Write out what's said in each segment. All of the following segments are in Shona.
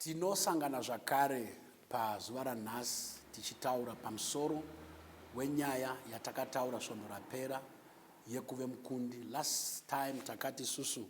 Tinosangana zvakare pazuva ranhasi tichitaura pamusoro wenyaya yatakataura svondo rapera yekuve mukundi. Last time takati isusu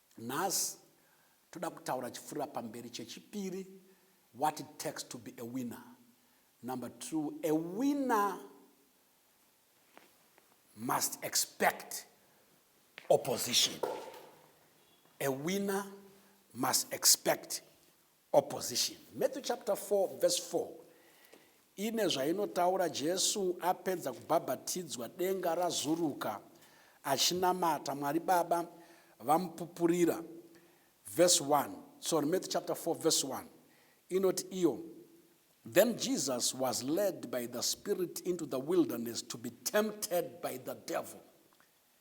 Nhasi toda kutaura chifurira pamberi chechipiri what it takes to be a winner. Number two, a winner must expect opposition. A winner must expect Opposition. Matthew chapter 4 verse 4 ine zvainotaura Jesu apedza kubhabhatidzwa denga razuruka achinamata Mwari Baba vamupupurira. Verse 1. Sorry, Matthew chapter 4 verse 1 inoti iyo Then Jesus was led by the Spirit into the wilderness to be tempted by the devil.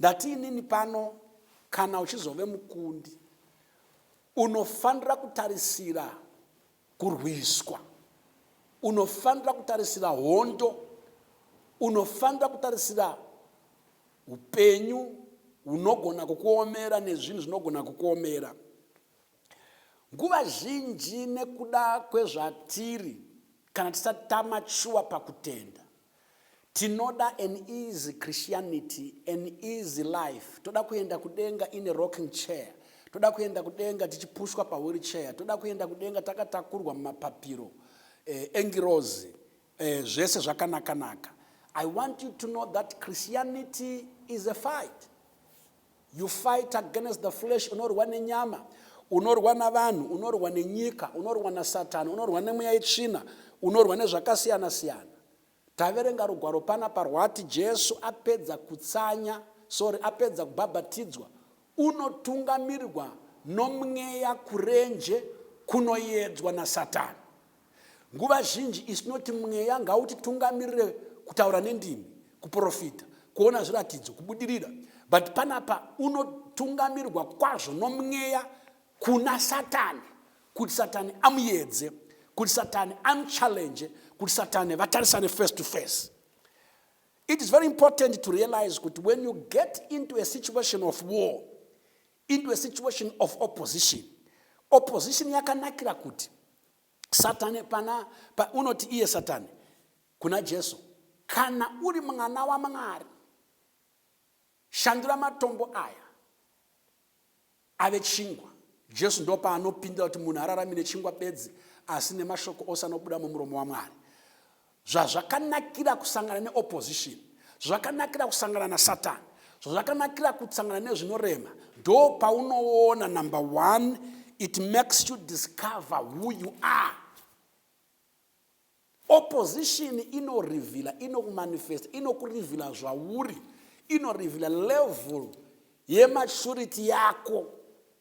Ndati inini pano kana uchizove mukundi unofanira kutarisira kurwiswa, unofanira kutarisira hondo, unofanira kutarisira upenyu hunogona kukuomera nezvinhu zvinogona kukuomera. Nguva zhinji nekuda kwezvatiri kana tisati tamatshuwa pakutenda, Tinoda an easy Christianity, an easy life. Toda kuenda kudenga in a rocking chair. Toda kuenda kudenga tichipushwa pawheelchair. Toda kuenda kudenga takatakurwa mumapapiro eh, engirozi eh, zvese zvakanakanaka. I want you to know that Christianity is a fight. You fight against the flesh, unorwa nenyama, unorwa navanhu, unorwa nenyika, unorwa nasatani, unorwa nemweya yetsvina, unorwa nezvakasiyana siyana. Taverenga rugwaro pana parwati Jesu apedza kutsanya, sorry, apedza kubhabhatidzwa, unotungamirirwa nomweya kurenje kunoyedzwa nasatani. Nguva zhinji isu tinoti mweya ngautitungamirire kutaura nendimi, kuprofita, kuona zviratidzo, kubudirira. But panapa unotungamirwa kwazvo nomweya kuna Satani kuti Satani amuyedze, kuti Satani amuchallenge, kuti Satani vatarisane face to face. It is very important to realize kuti when you get into a situation of war, into a situation of opposition opposition yakanakira kuti satani pana pa, unoti iye satani kuna jesu kana uri mwana wamwari shandura matombo aya ave chingwa jesu ndopaanopindira kuti munhu ararami nechingwa bedzi asi nemashoko ose anobuda mumuromo wamwari Zvazvakanakira kusangana neopposition, zvakanakira kusangana nasatani, zvazvakanakira kusangana nezvinorema, ndo paunoona number one it makes you discover who you are. Opposition inorivhila, inokumanifesta, inokurivhila zvauri, inorivhila level yematurity yako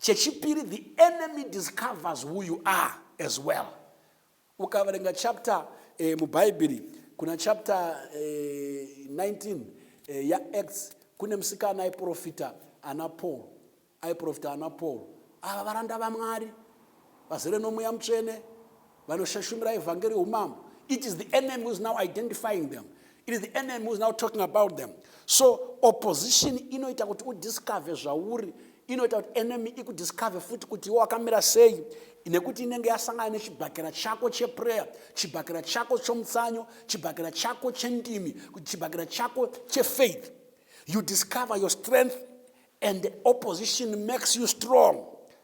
Chechipiri, the enemy discovers who you are as well. Ukaverenga chapter eh, mubhaibheri kuna chapter eh, 19 eh, yaacts kune musikana aiprofita ana paul aiprofita ana paul ava varanda vamwari vazere nomweya mutsvene vanoshashumira evhangeri youmambo it is the enemy who is now identifying them it is the enemy who is now talking about them so opposition inoita kuti udiscover zvauri inoita kuti enemy ikudiscover futi kuti iwe wakamira sei nekuti inenge yasangana nechibhakera chako cheprayer chibhakera chako chomutsanyo chibhakera chako chendimi chibhakera chako chefaith you discover your strength and opposition makes you strong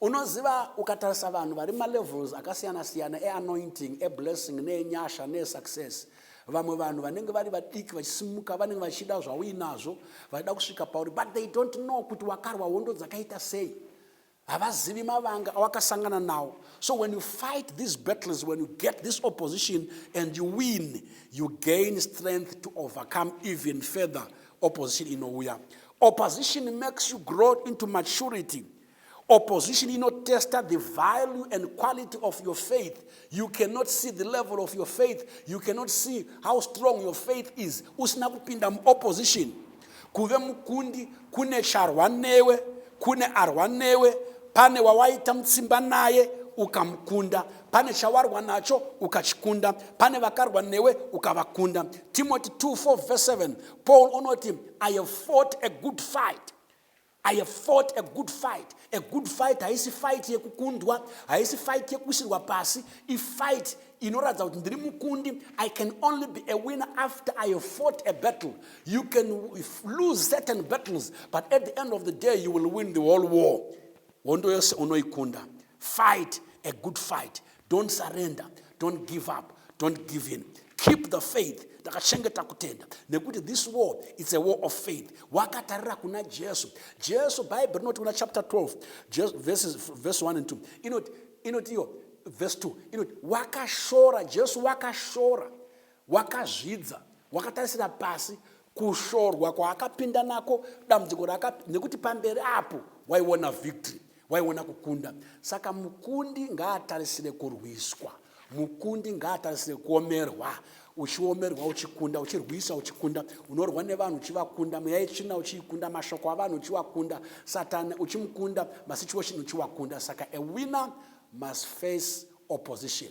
Unoziva ukatarisa vanhu vari malevels akasiyana siyana eanointing, eblessing, neenyasha, neesuccess. Vamwe vanhu vanenge vari vadiki vachisimuka vanenge vachida zvauinazvo, vachida kusvika pauri but they don't know kuti wakarwa hondo dzakaita sei. Havazivi mavanga awakasangana nawo. So when you fight these battles, when you get this opposition and you win, you gain strength to overcome even further opposition inouya opposition makes you grow into maturity opposition inotesta the value and quality of your faith you cannot see the level of your faith you cannot see how strong your faith is usina kupinda muopposition kuve mukundi kune charwa newe kune arwa newe pane wawaita mutsimba naye ukamukunda pane chawarwa nacho ukachikunda pane vakarwa newe ukavakunda timoti 24 vs 7 paul unoti i have fought a good fight i have fought a good fight a good fight haisi fight yekukundwa haisi fight yekuisirwa pasi ifight inoratidza kuti ndiri mukundi i can only be a winner after i have fought a battle you can lose certain battles but at the end of the day you will win the whole war hondo yose unoikunda Fight a good fight. Don't surrender. Don't give up. Don't give in. Keep the faith. Takachengeta kutenda nekuti this war it's a war of faith. Wakatarira kuna Jesu. Jesu Bible rinoti kuna chapter 12 Jesu, verses, verse 1 and 2 inoti inoti iyo verse 2 inoti wakashora Jesu wakashora Wakazvidza, wakatarisira pasi kushorwa kwaakapinda nako, dambudziko raaka nekuti pamberi apo waiona victory, waiona kukunda. Saka mukundi ngaatarisire kurwiswa, mukundi ngaatarisire kuomerwa uchiomerwa uchikunda uchirwisa uchikunda unorwa nevanhu uchivakunda mweya yetsvina uchiikunda mashoko avanhu uchiwakunda satani uchimukunda masituation uchiwakunda saka a winner must face opposition